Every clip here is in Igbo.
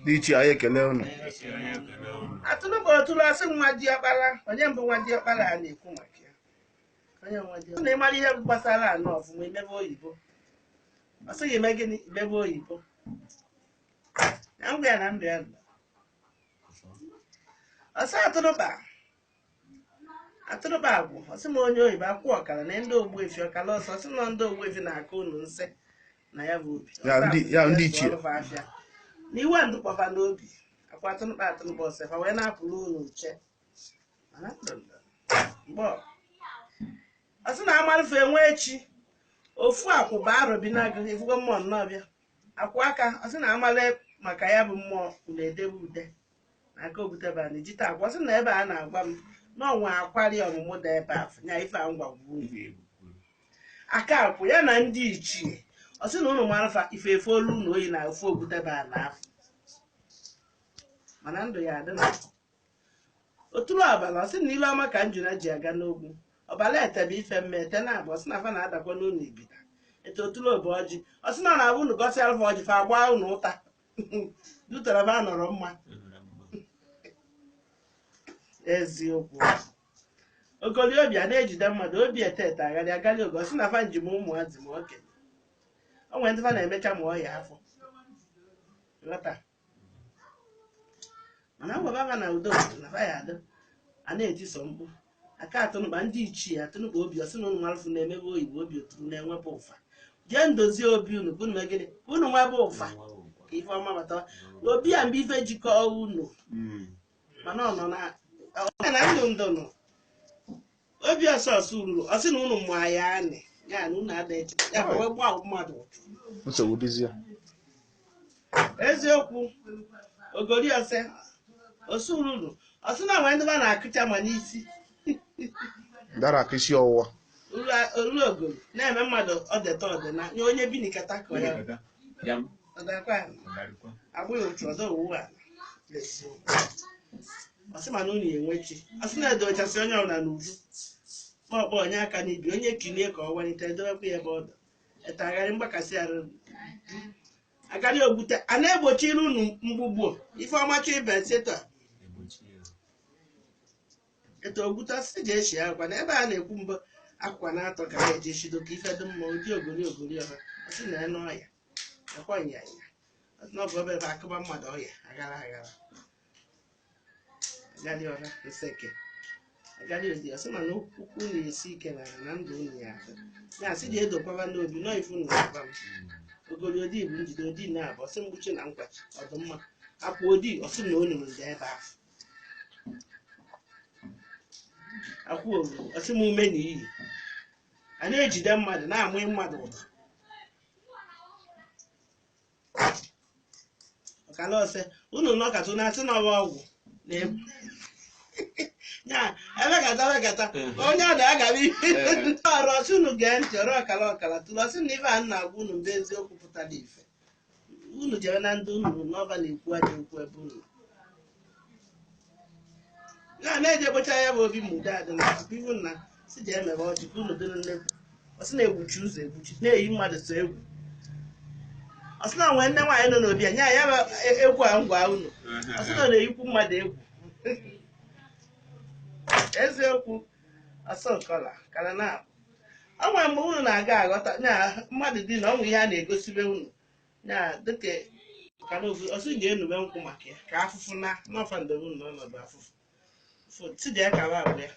ndị ichie anyị ekele unu atụrụ bụ ọtụrụ ọ sị nwa diọkpara onye mbụ nwa diọkpara a na-ekwu maka ya onye nwa diọkpara na ịmara ihe gbasara anọ ọfụma imebe oyibo ọ sị gị mee gịnị imebe oyibo na ngwa ya na ndụ ya nọ. ọ sị atụrụba atụrụba agwụ ọ sị ma onye oyibo akwụ ọkara na ndị ogbuefi ọkara ọsọ ọ sị na ndị ogbuefi na-aka unu nsị na ya bụ obi Ya ndị- ya ndị ichie. Ọlụfa afịa. na iwe ndụkwafa n'obi akwa atụrụba atụrụba ọ sị fa wee na-apụrụ unu uche Mana ndụ ndụ. mgbe ọ- ọ sị na amarụfe enwe echi ofu akwụ bụ Arọbịnagụ efugo mmụọ nnọọ bịa akwụ aka ọ sị na amara maka ya bụ mmụọ unu edebe ude aka obutebe anyị jite akwa ọ sị na ebe a na-agwa m na ọnwa akwari ọmụmụ dị ebe afọ nya ife a ngwa gwuo ugwu egwu aka akwụ ya na ndị ichie ọ sị na unu mara fa ife efe olu na oyi na ofe obutebe a na afọ mana ndụ ya adị na otulu abalị ọ sị na ile ọma ka njuna ji aga n'ogwu ọbala etebe ife mme ete na abụ ọ sị na fa na-adakwa n'ụlọ ibita ete otulu obe ọjị ọ sị na ọ na-abụ unu gọsịalụ fa ọjị fa gbaa unu ụta dutara fa nọrọ mma eziokwu ogoli obi a na-ejide mmadụ obi etete agharị agarị oge ọ sị na fa njem ụmụazị ma okenye o nwere ndị fa na-emecha ma ọya afọ ghọta mana ngwaba fa na udo na fa ya adị a na-etiso mkpu aka atụnụba ndị ichie atụnụba obi ọ sị na unu malụfụ imebe oyibo obi oturu na-enwebe ụfa jee ndozie obi unu ka unu mee gịnị ka unu nwebe ụfa ka ife ọma bata obi a mgbe ife jikọọ unu Mm. mana ọ nọ na ọ nọ na ndụ ndụ nọ obi ọsọ ọsọ ruru ọ sị na unu mụ ya anị ya na unu ada eche ya bụ wee gbaa mmadụ ụchụ nsogbu dịzie eziokwu ogori ose osururu ọ sị na o nwee ndị ba na-akụcha ma n'isi dara aka isi ọwụwa olu ogori na-eme mmadụ ọdeta ọdịna nye onye bi n'ikata ka ọ ya ọdakwa ya agbụghị otu ọdọ owu a ọ sị mana unu enwechi ọ sị na-edochasị onye ọbụla n'uju ma ọ kpọ onye aka n'ibi onye kilie ka ọ walite edowekwa ya ebe ọ dị etagharị mgbakasị arụ agadi ogbute a na-egbochiri unu mgbugbo ife ọma chọ ibe seta etu ogbute si ji eshi akwa na ebe a na-ekwu mbụ akwa na-atọ ka ha eji eshido ka ife dị mma ụdị ogori ogori ọha ọ sị na enu ọya akwa nyanya ọ sị na ọ bụ ebe ebe a kụba mmadụ ọya aghara aghara agali ọra nseke agali odi ọ sị mana okwu unu esi ike na na ndụ unu ya adị ya asị dị edokwaba n'obi nọ ifu na ụba m ogori odi bụ njide odi na abụ ọ sị mgbuchi na nkwachi ọ dị mma akwụ odi ọ sị na olu ndị ebe ahụ akwụ olu ọ sị m ume na iyi a na-ejide mmadụ na-amụ mmadụ ụtọ ọkala ọ sị unu nọkata unu asị na ọ wụ ọgwụ na-egbu ya emekata emekata onye a na-agabi ọrụ ọ sị unu gee ntị ọra ọkala ọkala otule ọ sị na ife a na-agwa unu bụ eziokwu pụtara ife unu jere na ndị unu n'ọba na-ekwu aja okwu ebe unu na na-eje gbocha ya bụ obi ma udo adị na tupu ihu nna si ji emebe ọjị ka unu dịrị nnekwu ọ sị na-egbuchi ụzọ egbuchi na-eyi mmadụ sọ egwu ọ sị na nwee nne nwaanyị nọ n'obi ya nye ya bụ e- egwu a ngwa unu ọ sị na ọ na-eyikwu mmadụ egwu eziokwu ose ọkala kara na ọ nwere mgbe unu na-aga aghọta na mmadụ dị na ọ nwere ihe a na-egosibe unu ya dịka ka na ofu ọ sị ga-enube nkwụ maka ya ka afụfụ na n'ọfa ndebe na ọnọdụ afụfụ fụ tidi ya kaba abụ ya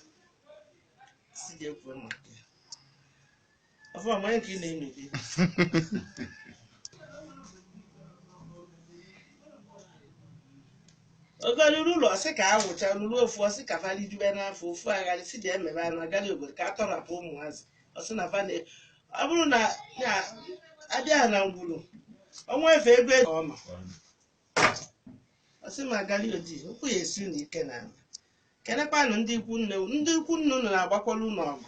si ga-ekwu maka ya ọfụ amanye ka ị na-eme ogoli ururu ọ sị ka a wụcha ururu ofu ọ sị ka fali jube n'afọ ofu agali si dị emebe anụ agali obodo ka a tọrapụ ụmụazị ọ sị na fane ọ bụrụ na ya abịa na ngwuru ọnwa efe ego ọma ọ sị ma agali odi okwu ya esi unu ike na ala kenekwanụ ndị ikwu nne unu. ndị ikwu nne unu na-agbakwara unu ọgụ